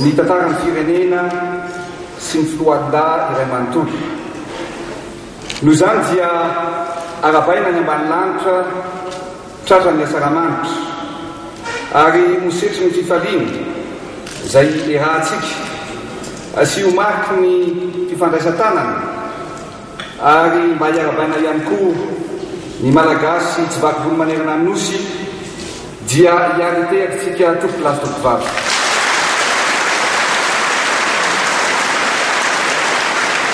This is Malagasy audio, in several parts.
Ny tantaran'ny firenena sy ny foloalindahy iray manontolo. Noho izany dia aravaina any ambany lanitra tratran'ny asaramanitra ary ho setrin'ny fifaliana izay iarahantsika sy ho mariky ny fifandraisan-tanana. Ary mba hiarabaina ihany koa ny Malagasy tsy vaky volo manerana ny Nosy dia hiary hitehaka isika tompoko lahy sy tompoko vavy.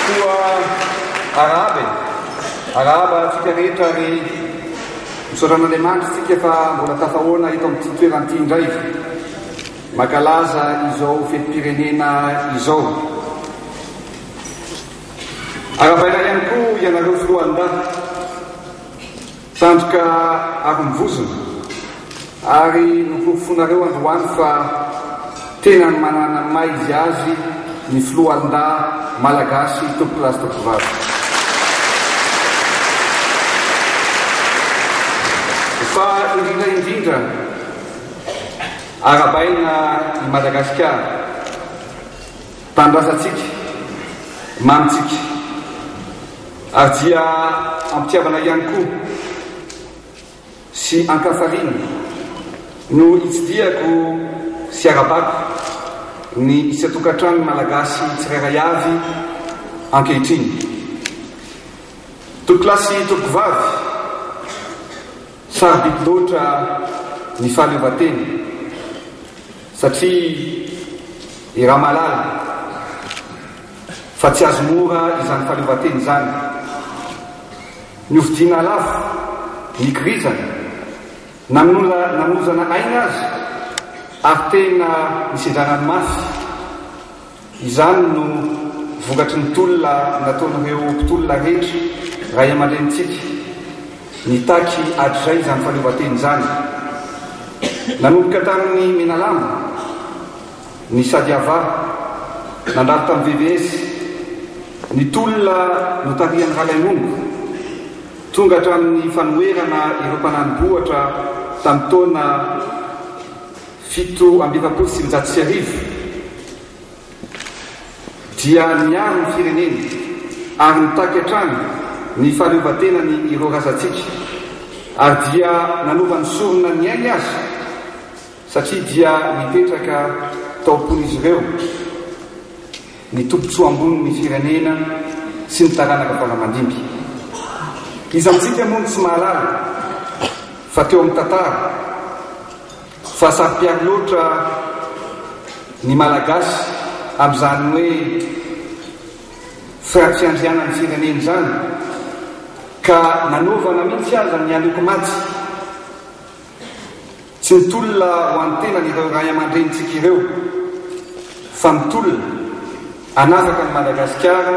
Koa arahaba e! Arahaba antsika rehetra ary misaotra an'Andriamanitra isika fa mbola tafahoana eto amin'ity toerana ity indray mankalaza izao fetim-pirenena izao. Arabaina ihany koa ianareo filohandahy, tandroka arom-bozona ary noporofoinareo androany fa tena manana maha izy azy ny filohandahy Malagasy tompokolahy sy tompovavy. Fa indrindra indrindra, arabaina i Madagasikara. Tanindrazantsika, mamintsika, ary dia am-pitiavana ihany koa sy an-kafariny no itsidihako sy arabako ny isan-tokantranon'ny Malagasy tsirairay avy ankehitriny. Tompokolahy sy tompokovavy, sarobidy loatra ny fahaleovantena. Satria i Ramalala fa tsy azo mora izany fahaleovantena izany. Ny hofidiana lafo, nikirizana, nanozana aina aza ary tena nisindrana ny mafy. Izany no vokatry ny tolona nataon'ireo mpitolona rehetra, ray aman-drenintsika, nitaky hatrizay izany fahaleovantena izany. Nanomboka tamin'i Menalamba, ny Sadiava, nandalo tamin'ny VVS, ny tolona notarihan'i Ralainongo, tonga hatramin'ny fanoherana ireo mpanani-bohitra tamin'ny taona Fito amby efapolo sy sivinjato sy arivo dia niaro ny fireneny ary nitaky hatrany ny fahaleovantenany ireo razantsika ary dia nanova ny sorona ny ainy aza satria dia nipetraka tao am-pon'izy ireo ny tombontsoa ambony ny firenena sy ny taranaka fanamandimby. Iza amintsika moa no tsy mahalala fa teo amin'ny tantara Fa saropiaro loatra ny Malagasy amin'izany hoe fiandrianan'ny fireneny izany ka nanovana mihitsy aza ny aloky maty. Tsy mitolona ho an'ny tenany ireo ray aman-drenintsika ireo fa mitolona hanafaka an'i Madagasikara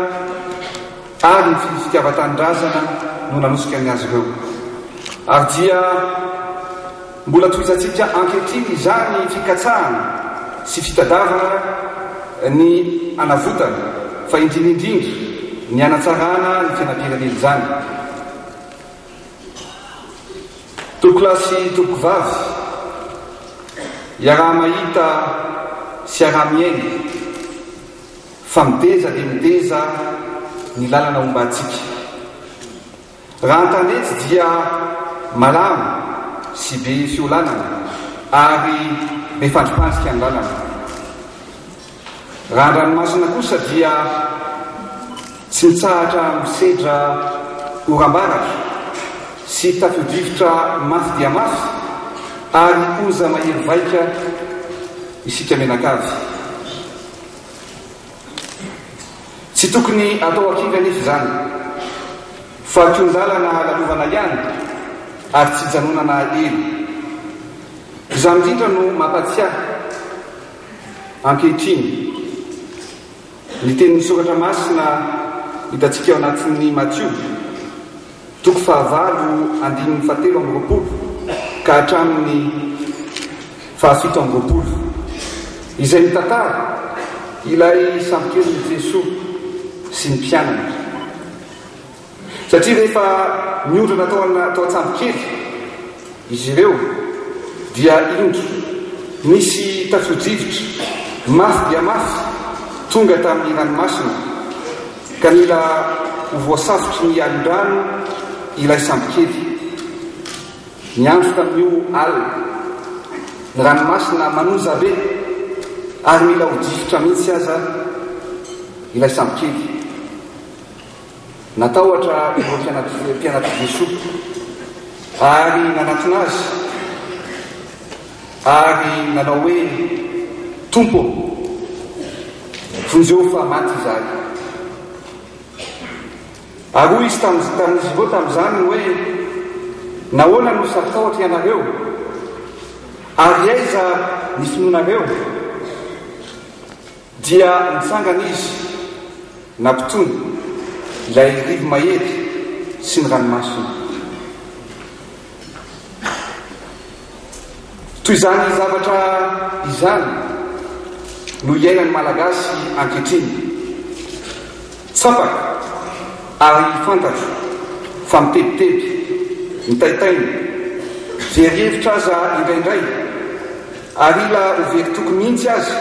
ary ny fitiava-tanindrazana no nanosika ny azy ireo. Ary dia. Mbola tohizantsika ankehitriny izany fikatsahana sy fitadiavana ny hanavotana fa indrindra indrindra ny hanatsarana ny fiainam-pirenena izany. Tompokolahy sy tompokovavy, iaraha-mahita sy iaraha-miaina fa mideza dia mideza ny lalana hombantsika. Raha an-tanety dia malama sy be fiolanana ary be fandripandrika ny lalana. Raha an-dranomasina kosa dia tsy mitsahatra misedra oram-baratra sy tafio-drivotra mafy dia mafy ary onja mahery vaika isika mianakavy. Tsy tokony atao akaiky anefa izany fa tion-dalana lalovana ihany ary tsy hijanonana ela. Izany indrindra no mampatsiahy ankehitriny ny tenin'ny soratra masina hitantsika ao anatin'ny Matio. Toko fahavalo andininy fahatelo amby roapolo ka hatramin'ny fahafito amby roapolo, izay mitantara ilay sambon-kelin'i Jesoa sy ny mpianany. Satria rehefa niondrana tao an-tsambo kely, Izy ireo dia indro nisy tafio-drivotra mafy dia mafy tonga tamin'ny ranomasina, ka nila ho voasafotry ny alin-drano ilay sambokely. Niandry tamin'io alina ny ranomasina manonja be, ary mila ho difotra mihitsy aza ilay sambokely. Natahotra ireo mpianatr'i Jesoa ary nanatona Azy ary nanao hoe, Tompo ô, vonjeo fa maty izahay. Ary hoy Izy tamin'izy ireo tamin'izany hoe, Nahoana no saro-tahotra ianareo? Ary aiza ny finoanareo? Dia nitsangana izy, nampitony ilay rivo mahery sy ny ranomasony. Toy izany zavatra izany no iainan'ny Malagasy ankehitriny. Tsapako ary fantatro fa mitebiteby, mitaitaina, very hevitra aza indraindray, ary ila ho very toky mihitsy aza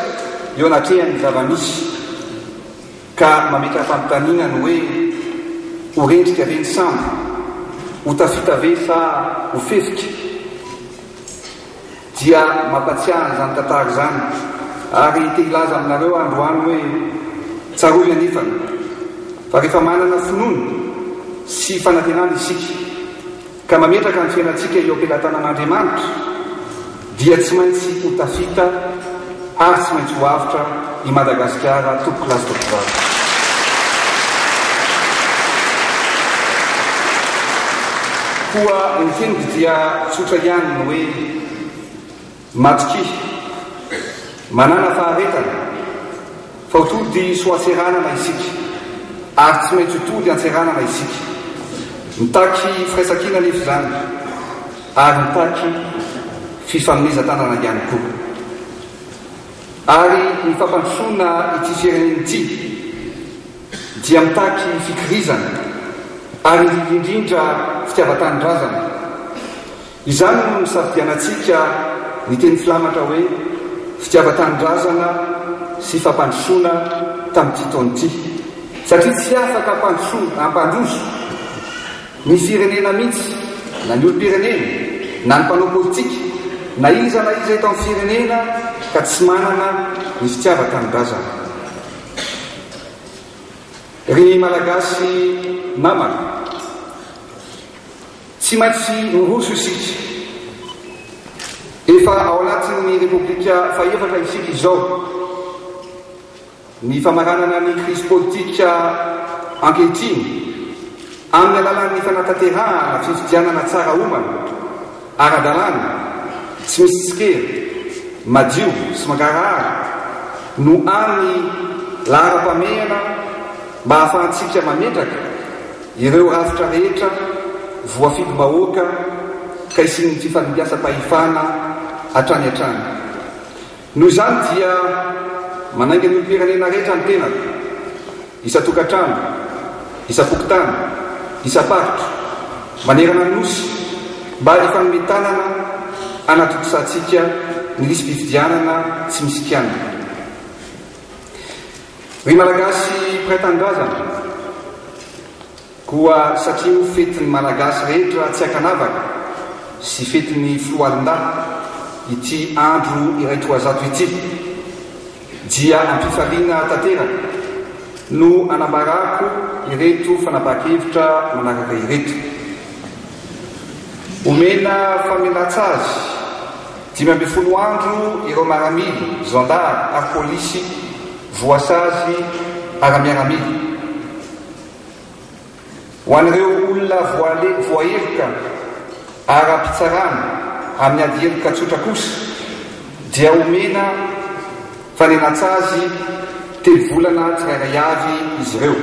eo anatrehan'ny zava-misy, ka mametra-panontaniana ny hoe, ho rendrika ve ny sambo? Ho tafita ve sa ho fefika? Dia mampatsiahy izany tantara izany. Ary te hilaza aminareo aho androany hoe, tsarovy anefany, fa rehefa manana finoana sy fanantenana isika, ka mametraka ny fiainantsika eo am-pelatanan'Andriamanitra, dia tsy maintsy ho tafita Ary tsy maintsy ho avotra i Madagasikara tompoko lahy sy tompovavy. Koa ny henoko dia tsotra ihany ny hoe matokia, manana faharetana. Vao tody soatseranana isika ary tsy maintsy ho tody antseranana isika. Mitaky firaisankina anefa izany ary mitaky fifanomezan-tanana ihany koa. Ary ny fampandrosoana ity firenena ity dia mitaky fikirizana ary indrindra indrindra fitiavan-tanindrazana. Izany no nisafidianantsika ny teny filamatra hoe fitiavan-tanindrazana sy fampandrosoana tamin'ity taona ity, satria tsy afaka hampandrosoana, hampandroso, ny firenena mihitsy na ny olom-pirenena na ny mpanao politika na iza na iza eto amin'ny firenena ka tsy manana ny fitiavan-tanindrazana. Ry Malagasy namana! Tsy maintsy miroso isika. Efa ao anatin'ny Repoblika fahefatra isika izao. Ny famaranana ny krizy politika ankehitriny amin'ny alalan'ny fanatanterahana fifidianana tsara homana, ara-dalàna, tsy misy tsikera, madio sy mangarahara no hany laharam-pahamehana mba hahafahantsika mametraka Ireo rafitra rehetra voafidim-bahoaka ka hisian'ny fifanimpiasam-pahefana hatrany hatrany. Noho izany dia manainga ny olom-pirenena rehetra ny tenako, isan-tokantrano, isam-pokontany, isam-paritra, manerana ny Nosy mba hifanome tanana hanatontosàntsika ny lisi-pifidianana tsy misy kianina. Ry Malagasy mpiray tanindrazana, koa satria ho fetin'ny Malagasy rehetra tsy an-kanavaka sy fetin'ny Foloalindahy ity andro iray toa zato ity, dia am-pifaliana tanteraka no anambarako ireto fanapahan-kevitra manaraka ireto. Omena famelantsazy. Dimy ambin'ny folo andro ireo maramily, zandary ary polisy voasazy ara-miaramila. Ho an'ireo olona voaheloka ara-pitsarana amin'ny ady heloka tsotra kosa dia omena fanenantsazy telo volana tsirairay avy izy ireo.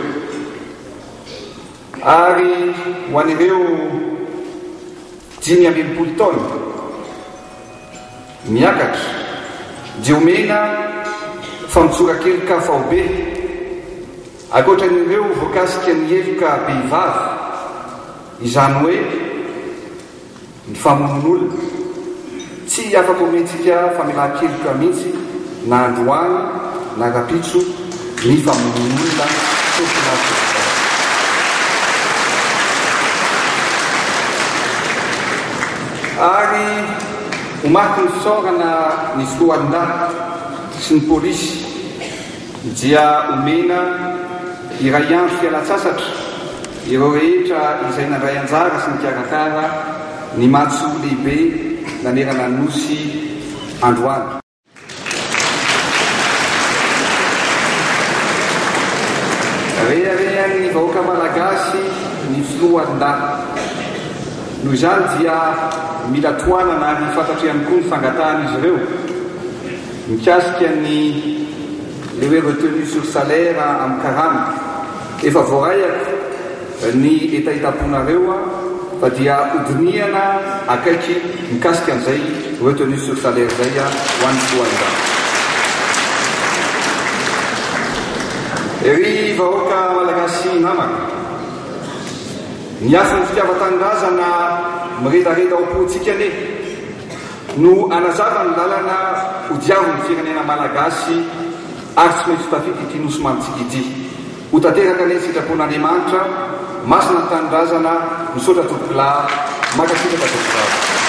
Ary ho an'ireo dimy amby enimpolo taona miakatra dia omena famotsoran-keloka faobe, ankoatra an'ireo voakasika ny heloka behivavy, izany hoe. Ny famonoan'olona. Tsy afa-pomentsika famelan-keloka mihitsy na androany na rapitso ny famonoan'olona fofona politika. Ary ho matin'ny fisaorana ny filohandahy sy ny polisy. Dia omena iray andro fialan-tsasatra ireo rehetra izay nandray anjara sy nikarakara ny matso lehibe nanerana ny Nosy androany. Reharehan'ny vahoaka Malagasy ny Foloalindahy. Noho izany dia mila tohanana ary fantatra ihany koa ny fangatahan'izy ireo. Mikasika ny le hoe retenue sur salaire amin'ny karama, efa voaraiako ny hetahetaponareo fa dia hodinihana akaiky mikasika an'izay retenue sur salaire izay ho an'ny filohan'ny rafitra. Ry vahoaka Malagasy namako, ny hafon'ny fitiavan-tanindrazana miredareda ao am-pontsika anie. No hanazava ny lalana ho diavin'ny firenena Malagasy ary tsy maintsy ho tafita ity Nosy mamintsika ity. Ho tanteraka anie ny sitrapon'Andriamanitra, masina ny tanindrazana, misaotra Tompokolahy, mankasitraka Tompokolahy.